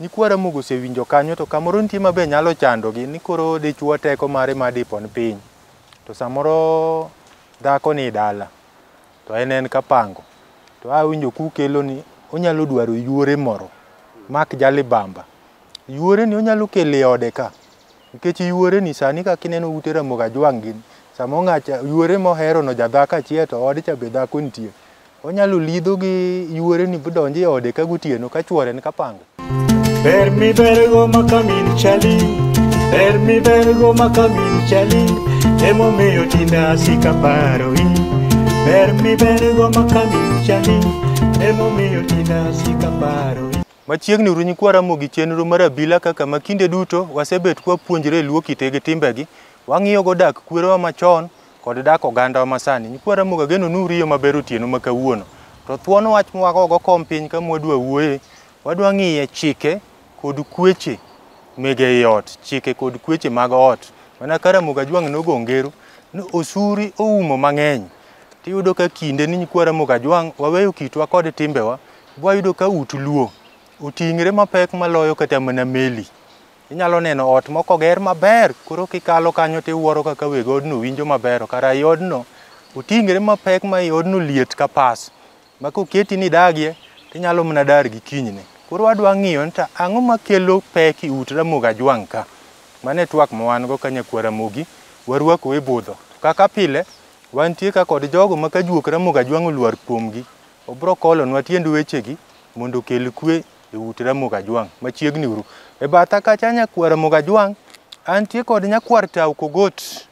Nyikwa Ramogi osewinjo kanyo to kamoro nitie mabe nyalo chandogi ni koro dichwo teko mare ma dipon piny to samoro dhako ni dala to en en kapango to awinjo kukelo ni onyalo dwaro yuore moro mak jalibamba yuore ni onyalo kele ode ka Nikech yuore ni sani kaka ineno ute ramogi ajwang' gini, sama ong'acha yuore mohero no jadhako achiel to ode cha be dhako nitie. Onyalo lidho gi yuore ni bodonjo e ode ka gotieno ka chuore ni kapanga. Ber mi bergo ma kamin chali Ber mi bergo ma kamin chali Emomiyo tinde asika paroi Ber mi bergo ma kamin chali Emomiyo tinde asika paroi Machiegni Runy kwa Ramogi chenro mar abila kaka ma kinde duto wasebet kwa puonjre Luo kite gi timbegi, wang'iyogo dak kwerewa machon kod dak ogandawa masani. Nyikwa Ramogi ageno ni uriyo maber otieno ma kawuono. To thuon wach mwagogo kom piny ka mwadwa wuoye, wadwa ng'iye chike kod kweche mege ei ot, chike kod kweche mag ot. Mana ka Ramogi Ajwang' nogo ngero ni osuri oumo mang'eny. Tiyudo ka kinde ni nyikwa Ramogi Ajwang' waweyo kitwa kod timbewa Wayudo ka ut luo oting're mapek maloyo kata mana meli. Inyalo neno ot moko oger maber, koro kikalo kanyo to iwuoro kaka weg odno winjo maber. Kara i odno oting're mapek ma i odno liet ka pas, ma koketi ni idagie to inyalo mana dar gi kinyne. Koro wadwa ng'iyo ni to ang'o makelo pek i ut Ramogi Ajwang' ka. Mano e twak ma wan go ka Nyakwa Ramogi, warwakou e budho. Kaka pile, wantie ka kod jogo ma ka juok Ramogi Ajwang' olwar kuomgi, Obro kolonwa tiend wechegi mondo okel kwe e ut Ramogi Ajwang' machiegni uru. E batha kacha nyakwar Ramogi Ajwang' antie kod nyakwar Tau Kogot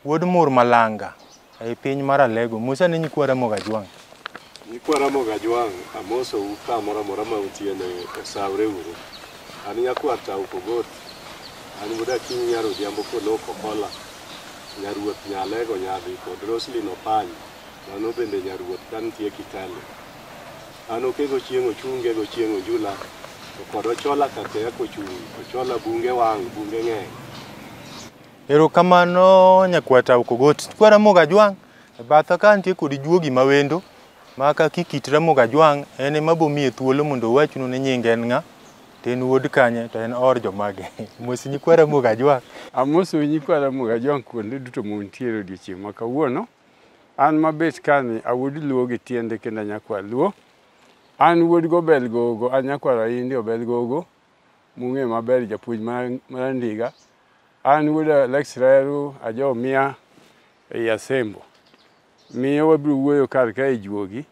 wuod Mur Malanga ei piny mar Alego. Musa ne nyikwa Ramogi Ajwang'. Nyikwa Ramogi Ajwang' amosou kamoro amora ma utie ni osawre uru. An nyakwar Tau Kogot, an wuod Akinyi nyar Odhiambo Kolok Okola, nyaruoth Nyalego Nyadhi kod Roslyn Opany. Mano bende nyaruoth ka nitie Kitale. An okego chieng' ochunge go chieng' onjula to kod ochola kakeya kochung' ochola bunge wang' bunge ng'eny. Erokamano nyakwata Okogoti. Kwa Ramogi Ajwang' e batha ka nitie kod juogi ma wendo ma kaki kit Ramogi Ajwang' en ema bomiye thuolo mondo owachnu ni nyinge en ng'a to en wuod kanye to en oor jomage. Mos nyikwa Ramogi Ajwang'. Amosou nyikwa Ramogi Ajwang' kuonde duto muntiere odiochieng' ma kawuono. An mabet kani a wuod Luo gi tiende kendo anyakwar Luo. An wuod Gobel Gogo, anyakwar Aindi Obel Gogo, mung'e maber japuonj Marandiga. An wuod Alex Reru, ajo Mia ei Asembo. Miyo wabiro wuoyo kar ka e juogi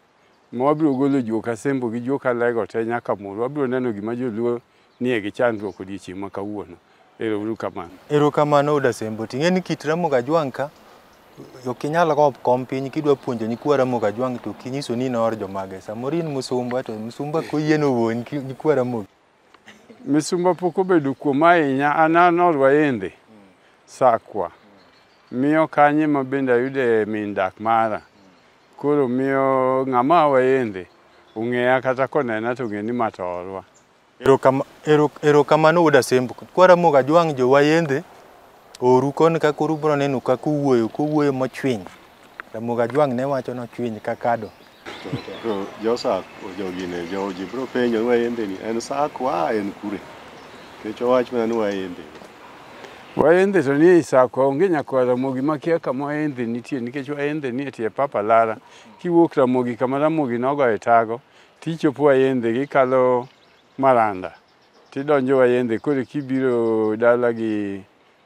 ma wabiro golo juok asembo gi juok alego te nyaka mul. Wabiro neno gima joluo nie gi chandruok odiechieng' ma kawuono. Ero uru kamano. Ero kamano Oda Sembo. Ting'e ni kit Ramogi Ajwang' ka ok inyal go kom piny kidwa puonjo nyikwa Ramogi Ajwang' to kinyiso ni noor jomage. Samoro in musumba to musumba koyie no wuon nyikwa Ramogi. Misumba pok obedo kuom ahinya an an orwaende sakwa miyo kanye ma bende ayude min dak mara koro miyo ng'ama wayende ong'eya kata konena to ng'e ni ma to orwa Erokama- ero- Erokamano wuod Asembo. Kwaramoga jwang' jo wayendhe oru koni ka koro ubro neno ka kuwuoyo kuwuoyo mochwiny. Ramoga jwang' ne wacho nochwiny ka kado. Josa jogi ne joji bro penjo ni wayembe ni en sakwa en kure kech owach mana ni wayembe Waendhe to nie Isakwa onge nyakwa Ramogi makia kama Waendhe nitie nikech Waendhe nie tie pap alara. Kiwuok Ramogi kama Ramogi nogoye tago tichopo Waendhe kikalo Maranda tidonjo Waendhe koro kibiro dala gi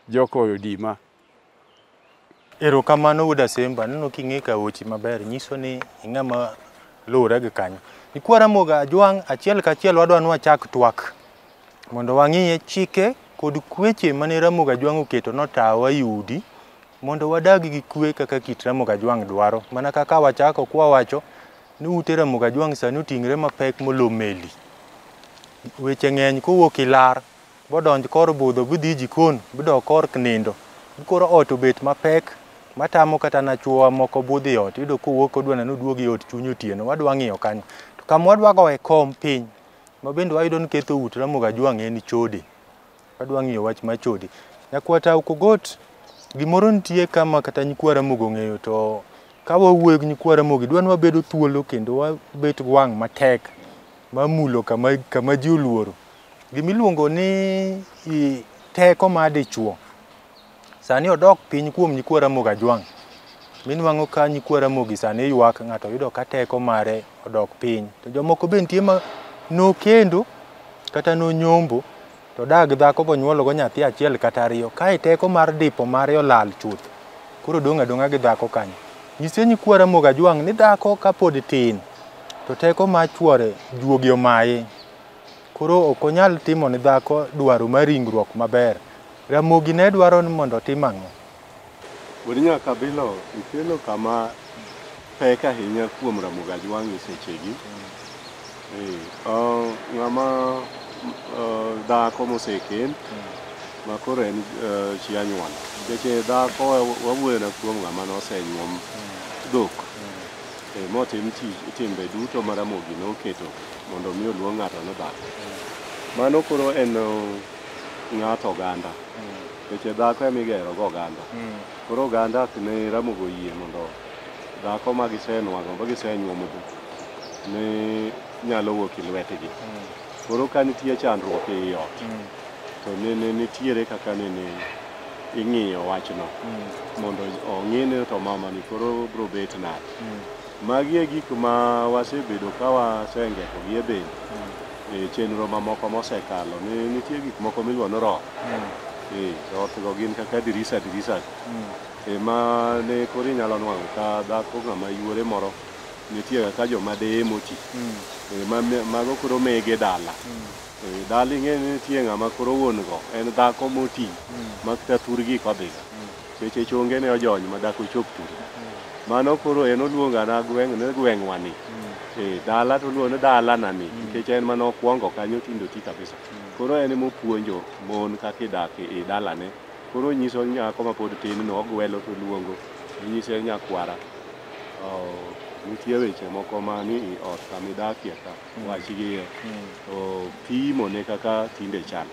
Joko Odima Erokamano wuod Asemba, aneno king'e ka weche maber, nyiso ni ing'ama luwore gi kanyo. Nyikwa Ramogi Ajwang' achiel kachiel wadwa ni wachak twak mondo wang'iye chike kod kweche mane Ramogi Ajwang' oketo notawa e udi mondo wadag gi kwe kaka kit Ramogi Ajwang' dwaro. Mana kaka wachako kwawacho ni ute Ramogi Ajwang' sani oting're mapek molo meli. Weche ng'eny kowuok ilar. Bodonj kor budho bidhi e jikon bidok kor knindo bikoro ot obet mapek matamo kata na chuowa moko budho e ot iyudo kowuok kodwa neno oduog e ot chuny otieno wadwa ng'iyo kanyo to kama wadwa goye kom piny ma bende wayudo ni ketho ute Ramogi Ajwang' en chode wadwa ng'iyo wach mar chode nyakwata ok ogot gimoro nitie kama kata nyikwa Ramogi ong'eyo to ka wawuoyo gi nyikwa Ramogi dwa ni wabedo thuolo kendo wabet gwang' matek mamulo kama kama ji oluoro Gimiluongo ni i- teko ma dichwo sani odok piny kuom nyikwa Ramogi Ajwang'. Minwang'o ka nyikwa Ramogi sani ywak ng'ato yudo ka teko mare odok piny. To jomoko be nitie ma nokendo kata nonyombo to dag dhako bonyuologo nyathi achiel kata ariyo kae teko mar dipo mare olal chuth. Koro dong' adong'a gi dhako kanyo. Nyise nyikwa Ramogi Ajwang' ni dhako kapod tin to teko mar chwore juogi omaye. Koro ok onyal timo ne dhako dwaro mar ringruok maber. Ramogi ne dwaro ni mondo otim ang'o? Wuod Nyakabilo, ikelo kama pek ahinya kuom Ramogi Ajwang' e sechegi. Eh, ah, ng'ama ah, dhako mosekend ma koro en ah, chi anyuola nikech eh, dhako wa- wawuoyona kuom ng'ama nosenyuom dhok eh, motim tich- timbe duto ma Ramogi noketo mondo mi oluong ng'ato ni dhako. Mano koro en uh, ng'ato oganda. Weche dhako ema igero go oganda. Koro oganda ok ne ramogo yie mondo dhako ma gisenwang'o ma gisenyuomogo ne nyalo wuok e lwetgi. Koro ka nitie chandruok ei ot to nene nitiere kaka nene ing'iyo wachno mondo ong'i ni to mamani koro bro bet nade. Magi e gik ma wasebedo ka wasengekogi e bende e chenro mamoko mosekalo. Ni- Nitie gik moko miluongo ni roho. Eh, rothgo gin kaka dirisa dirisa. Eh, ma ne koro inyalo nwang'o ka dhako ng'ama yuore moro nitie kaka joma deye moti. Eh, ma- ma- mago koro mege dala. Eh, dala ing'e ni nitie ng'ama koro wuon go en dhako moti ma kata thurgi kodhiga. Seche chonge ne ojony ma dak ochop kuro. Mano koro en oluonga na gweng' ne gweng'wa ni. Eh, dala to oluongo ni dala na ni. Nikech en mane okwongo kanyo tindo ti kabisa. Koro en ema opuonjo mon kaka idak e i dalane. Koro onyiso nyako ma pod tin no ogwelo to oluongo. Inyise ni nyakwara, oh, nitie weche moko man e i ot kama idakie ka. Wach gi iye. To pimone kaka tinde chal.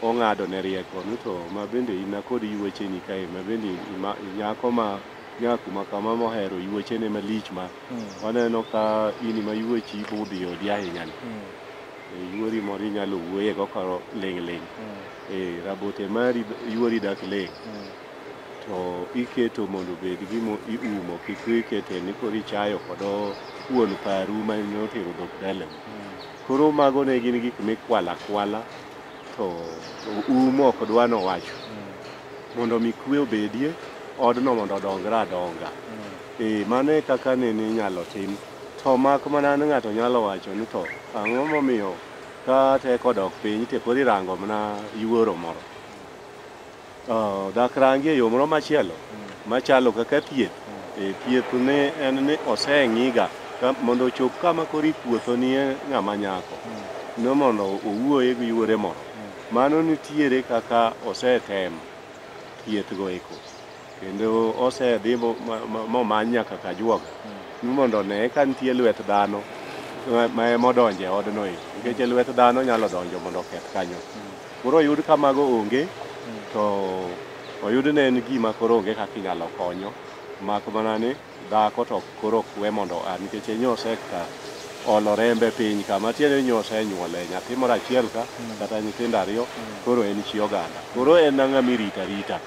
ong'ado ne rieko ni to ma bende in kod yuwecheni kae ma bende ima- nyako ma nyaku ma kama mohero yuwechene malich ma waneno ka in ma yuwechi budhi e odi ahinya ni E, yuori moro inyalo wuoye go koro ling' ling' e rabote mari yuori dak ling' to iketo mondo obed gimo iumo kik ikete ni koro ichayo kodo wuon paru ma notero dhok dalani Koro mago ne gin gik mikwala kwala to um ok dwa nowacho mondo mi kwe obedie odno mondo odongre adonga ee mano e kaka nene inyalo tim to mak mana ni ng'ato nyalo wacho ni to ang'o momiyo ka teko odok piny to koro irango mana yuoro moro Oh, dak rangi e yo moro machielo machalo kaka thieth. E, thieth ne en ni oseng'iga ka- mondo ochop kama koro ipuotho nie ng'ama nyako ni mondo owuoye gi yuore moro. Mano nitiere kaka osetem thiethgo eko kendo osedhi mo- ma- ma- momany nyaka kajuoga ni mondo one ka nitie lwet dhano ma- ma emodonje odno eko nikech lwet dhano nyalo donjo mondo oketh kanyo Koro oyud ka mago onge to oyud ne en gima koro onge kaka inyalo konyo mak mana ni dhako to koro ok we mondo a nikech e nyo sekta olo rembe piny ka matiende ni nyo osenyuole nyathi moro achiel ka kata nyithindo ariyo koro en chi oganda koro en ang'a mirita rita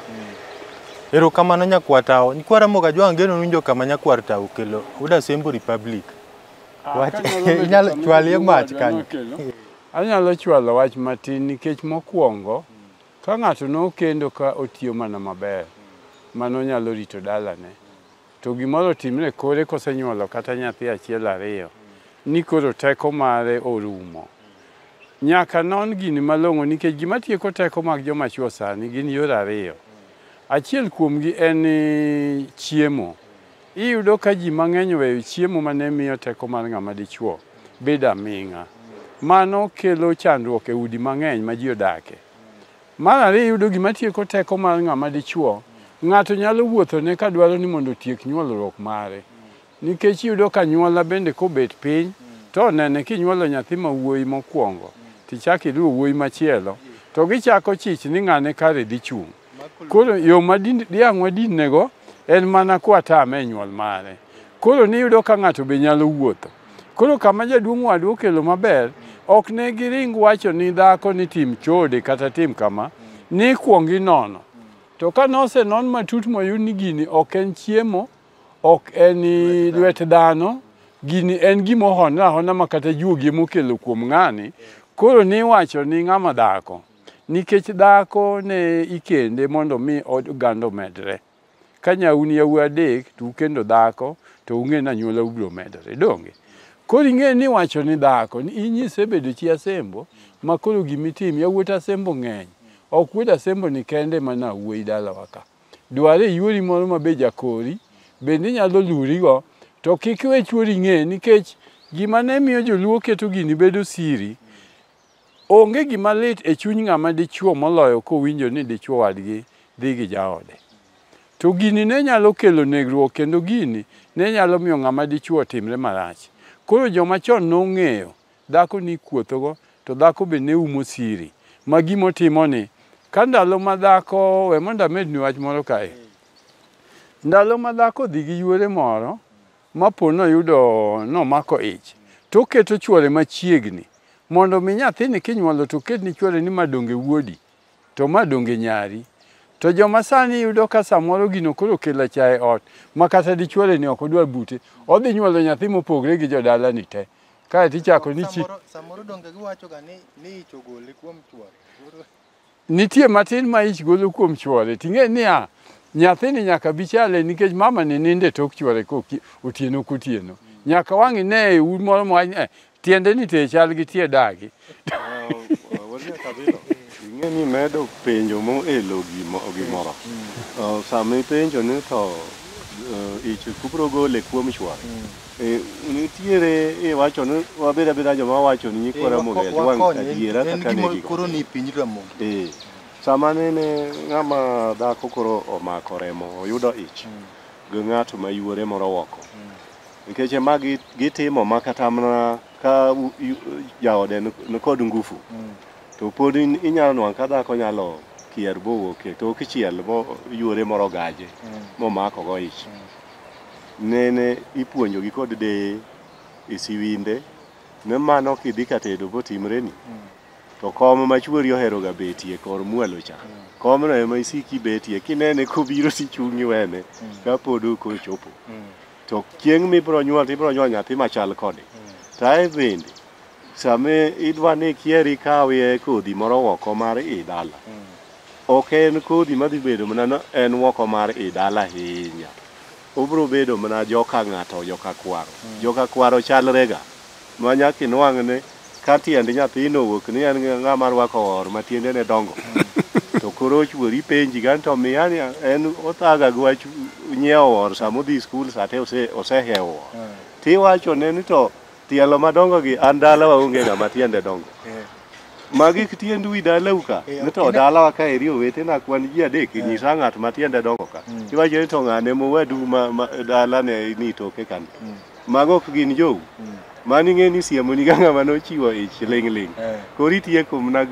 Erokamano nyakwar tawo. Nyakwar Ramogi Ajwang' geno winjo kama nyakwar tawo okelo. Uda Sembo Republic. Wach inyalo chwalie mach kanyo. Anyalo chwalo wach matin nikech mokwongo ka ng'ato nokendo ka otiyo mana maber mano nyalo rito dalane to gimoro timre kore kosenyuolo kata nyathi achiel ariyo ni koro teko mare orumo nyaka non gini malong'o nikech gima tieko teko mag joma chwo sani gin yore ariyo achiel kuomgi en chiemo Iyudo ka ji mang'eny oweyo chiemo ma ne miyo teko mar ng'ama dichwo bedo aming'a. Mano kelo chandruok e udi mang'eny ma ji odakie. Mar ariyo, iyudo gima tieko teko mar ng'ama dichwo, ng'ato nyalo wuothone ka dwaro ni mondo otiek nyuolruok mare. Nikech iyudo ka nyuola bende kobet piny, to onene kinyuolo nyathi ma wuoyi mokwongo, tichak iluwo wuoyi machielo, to gichako chich ni ng'ane kare dhi chung'. Koro yo ma dhiang' wadinnego en mana kwatame e nyuol mare. Koro niyudo ka ng'ato be nyalo wuotho. Koro kama jaduong' wadu okelo maber, ok ne giring wacho ni dhako ni tim chode kata tim kama, ni kwong inono. To ka nose non matut moyud ni gini ok en chiemo, ok en lwet dhano, gini en gima ohonore ahona ma kata juogi emokelo kuom ng'ani, koro niwacho ni ng'ama dhako. Nikech dhako ne ikende mondo mi od oganda omedre. Ka nyau ni yawuoyi adek to ukendo dhako to ung'e ni anyuola ubiro medore. Donge? Koro ing'e ni wacho ni dhako ni inyise bedo chi asembo ma koro gimitim yawuot asembo ng'eny. Ok wuod asembo ni kende mana wuoyi dalawa ka. Dware yuori moro ma be jakori bende inyalo lurigo to kik iwe chuori ng'e nikech gima ne miyo joluo keto gini bedo siri Onge gima lit e chuny ng'ama dichwo moloyo kowinjo ni dichwo wadgi dhi gi jaode. To gini ne nyalo kelo negruok kendo gini ne nyalo miyo ng'ama dichwo otimre marach. Koro joma chon nong'eyo dhako ni ikuothogo to dhako be ne umo siri ma gima otimoni ka ndalo ma dhako we mondo amedni wach moro kae. Ndalo ma dhako odhi gi yuore moro ma po noyudo nomako ich, to oketo chwore machiegni, mondo mi nyathini kinyuolo to oket ni chwore ni ma donge wuodi, to ma donge nyari. To joma sani yudo ka samoro gino koro okelo achaye ot, ma kata dichwore ni ok odwar bute, odhi nyuolo nyathi mopogre gi jodalani te. Kae to ichako ni chi... Samoro, samoro donge giwachoga ni, ni ich ogole kuom chwore. Nitie matin ma ich golo kuom chwore, ting'e niya, nyathini nyaka bi chale nikech mama ni nindo e tok chwore otieno kotieno. Nyaka wang' ine e un moro mwany, eh, tiende ni te chal gi tie dagi. Ing'e ni medo penjo mo elo gimoro. Sami penjo ni to eh, ich kubro gole kuom chwore. Eh, nitiere iwacho ni wabed abeda joma wacho ni nyikwa Ramogi Eh, wako- ajwang' wakonye, adiera en kaka ne gima giko. koro ni piny Ramogi. Eh, sama nene ng'ama dhako koro omako remo oyudo ich gi ng'ato ma yuore moro oko nikech ema gi- gitimo ma kata mana ka u- yu- jaode ni- nikod ngufu to pod in- inyalo nwang' ka dhako nyalo kier bowuok e tok chiel bo yuore moro gaje momakogo ich Nene ipuonjogi kod deye e siwinde ne mano kidhi ka tedo botimreni to kom ma chuori oheroga betie kor mwalo cha komno ema isiki betie kinene kobiro tichung' iwene kapod ok ochopo to chieng' mibiro nyuol to ibiro nyuol nyathi machal kode to ae bende sama idwa ni ikier ikawie kodhi moro oko mar i dala Ok en kodhi madhi bedo mana ni en woko mar i dala ahinya. Obiro bedo mana joka ng'ato, joka kwaro. Joka kwaro chalrega ma nyaka inwang' ni ka tiend nyathino owuok ni en ng'ama rwako or ma tiendene dongo to koro ochuori ipenji gani to miya ni en othaga gi wach nyiewo or sama odhi skul sate ose- osehewo or. Tiwachone ni to Tielo madongo gi an dala waonge ng'ama tiende dongo. Eh. Magi tiend wi dalau ka. Eh, Nito okay. dalawa ka eri owetena kwan ji adek eh. nyisa ng'at ma tiende dongo ka. Mm. Iwacho ni to ng'ane mowadu ma, ma dalane ni toke kan. Mm. Mago ok gin jou. Mm. Mani ng'e ni siemo ni ng'ama nochiwo ich ling' ling'. Eh. Koro itieko mna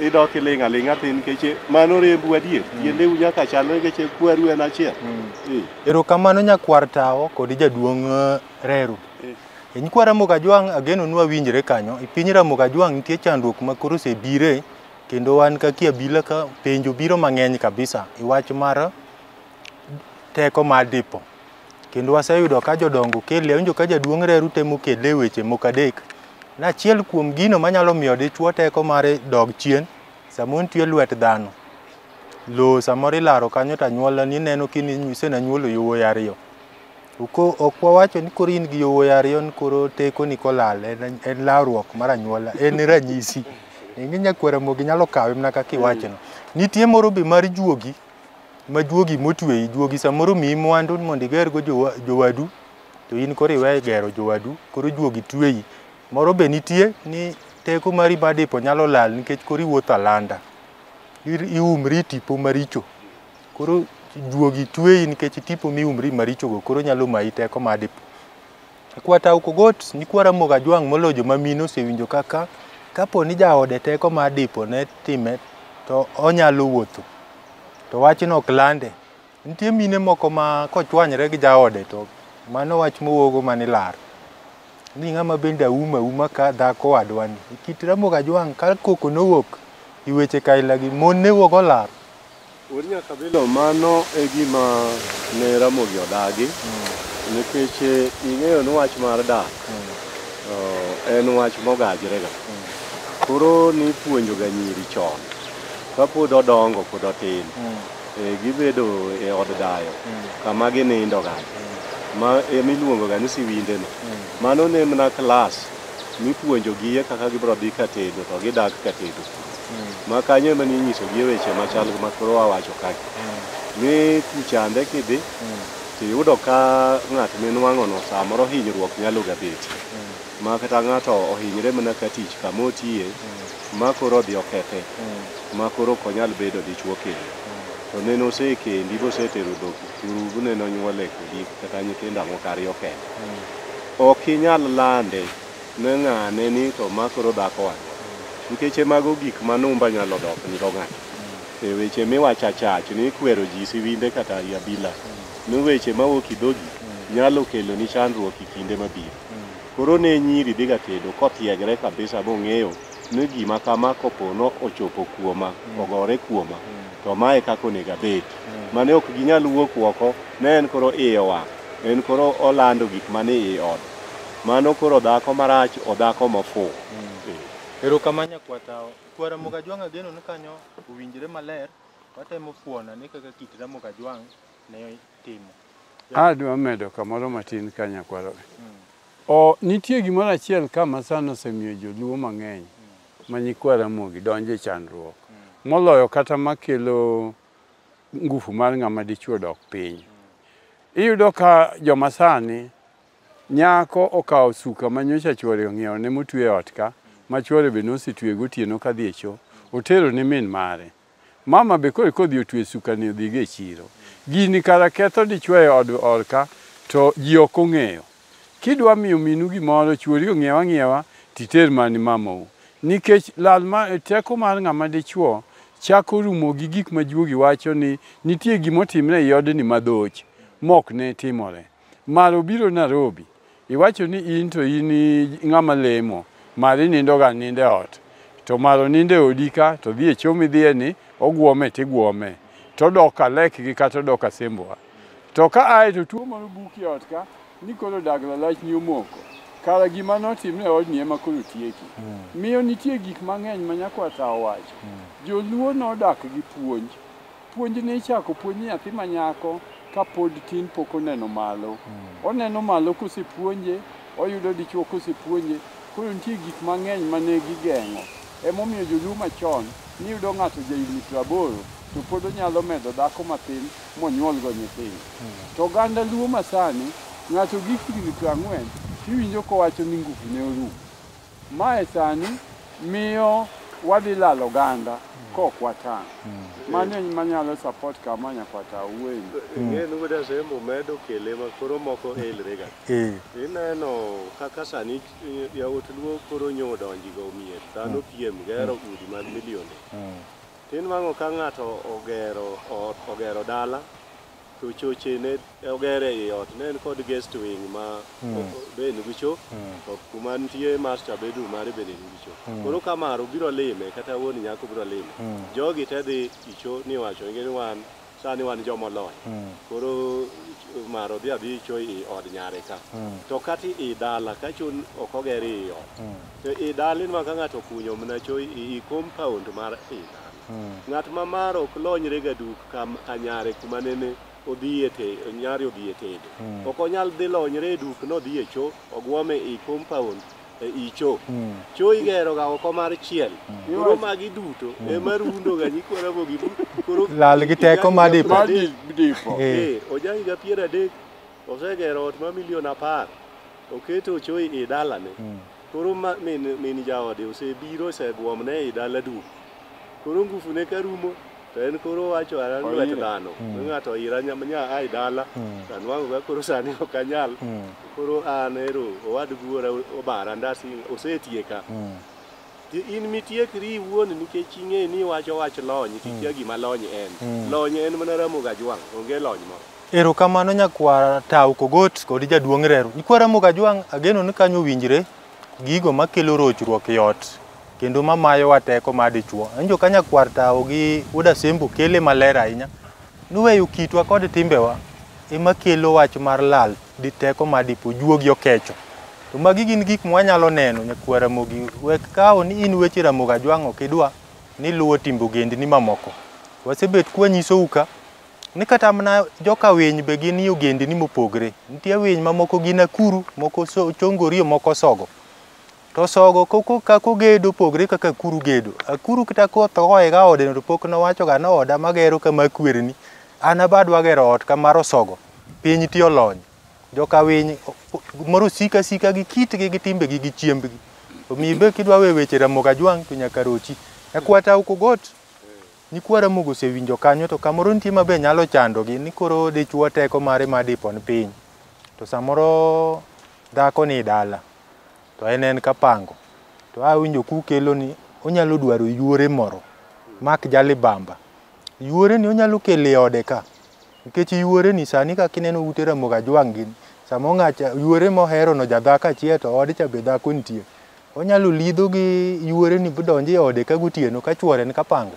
idok iling' aling'a tin nikech mano rembu adier mm. yiendeu nyaka chalre nikech kwaru en achiel mm. eh. erokamano nyakwar tawo kod jaduong' eh, Reru. E nyikwa Ramogi Ajwang' ageno ni wawinjre kanyo. E piny Ramogi Ajwang' nitie chandruok ma koro osebire kendo wan kaka abila ka penjo biro mang'eny kabisa e wach mar teko mar dipo. Kendo waseyudo ka jodongo kele, awinjo ka jaduong' Reru temo kele e weche moko adek. Ni achiel kuom gino manyalo miyo dichwo teko mare dog chien, samoro nitie lwet dhano. Lowo samoro ilaro kanyo to anyuolani neno kini isenanyuolo yowuoyi ariyo. Ok wawacho ni koro in gi yowuoyi ariyo ni koro tekoni kolal en lawruok mar anyuola, en ranyisi. Ing'e nyakwar Ramogi nyalo kawe mana kaka iwachono. Nitie moro be mar juogi, ma juogi motweyi, juogi samoro omiyi mwandu mondo igergo jowadu to in koro iwe gero jowadu, koro juogi tweyi. Moro be nitie ni teko mari mar dipo nyalo lal nikech koro iwuotho alanda, iumri e tipo maricho. Koro juogi tweyi nikech tipo mi umri marichogo koro nyalo mayi teko madi. Kwata Ukogot nyikwa Ramogi Ajwang' moloyo joma mine osewinjo kaka kapo ni jaode teko ma dipo ne time to onyalo wuotho to wachno ok lande. Nitie mine moko ma kochwanyre gi jaode to mano wach mowuogo mana ilar ni ng'ama bende aum auma ka dhako wadwani. E kit Ramogi Ajwang' ka koko nowuok i weche kailagi mon ne wuogo olar. Wuod Nyakabilo mano e gima ne Ramogi odagi nikech ing'eyo ni wach mar dak eh, en wach mogajrega. Koro nipuonjoga nyiri chon kapod odongo pod otin eh, gibedo e od dayo kama ginindoga ma emiluongoga ni siwindeno. Mano ne mana klas mipuonjogie kaka gibiro dhi katedo to gidak katedo. ma kanyo ema ne inyisogi e weche machal ma koro wawacho kagi ni kuchande kidhi to iyudo ka ng'at minwang'ono samoro hinyruok nyalo ga bet ma kata ng'ato ohinyre mana ka tich kama otiye ma koro odhi okethe ma koro ok onyal bedo dichwo kendo to ne nosekendi bosetero dhok kuru ne nonyuole kodi kata nyithindo moko ariyo kende ok inyal lande Ne ng'ane ni to ma koro dhako wach. Nikeche mago gik ma numba nyalo dok ni go ng'ato. E weche miwacho achach ni ikwero ji siwinde kata i abila. Ni weche mawuok i dhogi nyalo kelo ni chandruok i kinde mabiro. Koro ne nyiri dhiga tedo kothiegre kabisa mong'eyo ni gima kama kopo no ochopo kuoma, ogore kuoma, to ma e kaka onego abed. Mane ok ginyal wuok woko ne en koro iye owang'. En koro olando gik mani i ode. Mano koro dhako marach odhako mafuu. Erokamano nyakwar tawa. Kwar Ramogi Ajwang' ageno ni kanyo owinjore maler. Watemo fuono ane kaka kit Ramogi Ajwang' ne timo. Adwa medo kamoro matin ka nyakwar. O, nitie gimoro achiel ka ma sani osemiyo joluo mang'eny ma nyikwa Ramogi donjo e chandruok. Moloyo kata makelo ngufu mar ng'ama dichuo dok piny. Iyudo ka joma sani Nyako okawo suka ma nyocha chwore ong'iewone motue e ot ka, ma chwore be nosetue gotieno kadhi e cho, otero ni min mare. Mama be koro kodhi otue sukani odhigo e chiro. Gini kara ketho dichwo e od or ka, to ji ok ong'eyo. Kidwa miyo minu gimoro, chwori ong'iew ang'iewa to iter mana ni mamau. Nikech lal ma, teko mar ng'ama dichwo chako rumo gi gik ma juogi wacho ni nitie gima otimre ei odni madhoch mok ne timore. Mar obiro Narobi. Iwacho ni in to in ng'ama lemo. Mar inindo ga ninde ot. To mar onindo e odi ka to dhi e cho midhiye ni ogwome to igwome. To odok ka lek gi ka to odok ka sembwa. To ka ae to tuo moro buki e ot ka ni koro dag lalach ni omoko. Kara gima notimre e odni ema koro tieki. Miyo nitie gik mang'eny ma nyakwar ta owacho. Joluo nodak gi puonj. Puonjni ichako puonj nyathi ma nyako ka pod tin pok oneno malo. Hmm. Oneno malo kosepuonje, oyudo dichuo kosepuonje, koro nitie gik mang'eny ma ne gigeng'o. Emomiyo joluo machon niyudo ng'ato jahigni praboro to pod onyalo medo dhako matin monyuolgo nyithindo. Hmm. To oganda luo masani, ng'ato gi higni prang'wen tiwinjo kowacho ni ngufu ne orumo. Mae sani miyo wadhi lalo ganda kok watang'. Mano en manyalo support kama nyakwata Awuoyini. ing'e ni wuod asembo medo kele ma koro moko elrega Eh. ineno kaka sani eh, yawuot luo koro nyo donji go mier dhano piem gero udi mag milionde tinwang'o ka ng'ato ogero ot ogero dala to choche ne oger ei ot ne en kod guest wing ma be en gicho to kuma nitie master bedroom mare bende en gicho koro ka maro biro lime kata wuon nyako biro lime jogi te dhi icho ni wacho ni wan sani wan joma olony koro maro dhi adhi icho i od nyare ka to kata i dala ka chun ok oger i ot to i dala inwa ka ng'ato okunyo mna cho i i compound mar i dala Ng'at ma mar ok lonyre ga duk ka ka nyare kuma nene odhi e te nyare odhi e tedo. Ok onyal dhi lonyre e duk nodhi e cho ogwome e compound e i cho. Cho igero ga oko mar chiel. Koro magi duto ema rundo ga nyikwa Ramogi. Koro Lal gi teko ma dipo. Mar di- dipo. Eh. Eh, oja higa piero adek osegero ot ma milion apar oketo ochoyi i dalane Koro ma, min, min jaode osebiro oseguomne ei dala duk. Koro ngufune ka rumo to en koro wacho ara lwet Oire. dhano. Mm. Ng'ato oira nya, nya ai dala. Mm. To anwang'o ka koro sani ok anyal. Mm. Koro an ero owad guora obara ndasi osetieka. Mm. Ti- In mitiekri iwuon nikech ing'e ni iwacho wach lony to ikia gima lony en. Mm. Lony en mana Ramogi Ajwang', onge lony moro. Erokamano nyakwar Tau Kogot kod jaduong' Reru. Nyikwa Ramogi Ajwang' ageno ni kanyo owinjre gigo makelo rochruok e ot kendo mamayowa teko mar dichwo. Anjo ka nyakwar Tau gi Wuod Asembo kele maler ahinya ni weyo kitwa kod timbewa ema kelo wach mar lal di teko mar dipo juogi okecho. To magi gin gik mwanyalo neno nyakwar Ramogi wek kawo ni in weche Ramogi Ajwang' ok idwa ni luwo timbe ogendni mamoko. Wasebet kwanyisou ka Ni kata mana joka winy be gin ogendini mopogre. Nitie winy ma moko gin akuru, moko so, chongorio, moko sogo. To sogo koko kaka ogedo opogre kaka akuru gedo. Akuru kata koth ohoye ga ode to pok nowacho ga ni oda magero kama kwerni. An aba adwa gero ot ka mar osogo. Piny ti olony. Joka winy moro sika asika gi kitgi gi timbegi gi chiembgi. Omiyo be kidwa we weche Ramogi Ajwang' to nyaka rochi. E kwata Ukogot Nyikwa Ramogi osewinjo kanyo to kamoro nitie ma be nyalo chandogi ni koro dichwo teko mare ma dipon piny to samoro dhako ni dala to en en kapango to awinjo kukelo ni onyalo dwaro yuore moro mak jalibamba yuore ni onyalo kele ode ka Nikech yuore ni sani kaka ineno ute ramogi ajwang' gini, sama ong'acha yuore mohero no jadhako achiel to ode cha be dhako nitie. Onyalo lidho gi yuore ni bodonjo e ode ka gotieno ka chuore ni kapanga.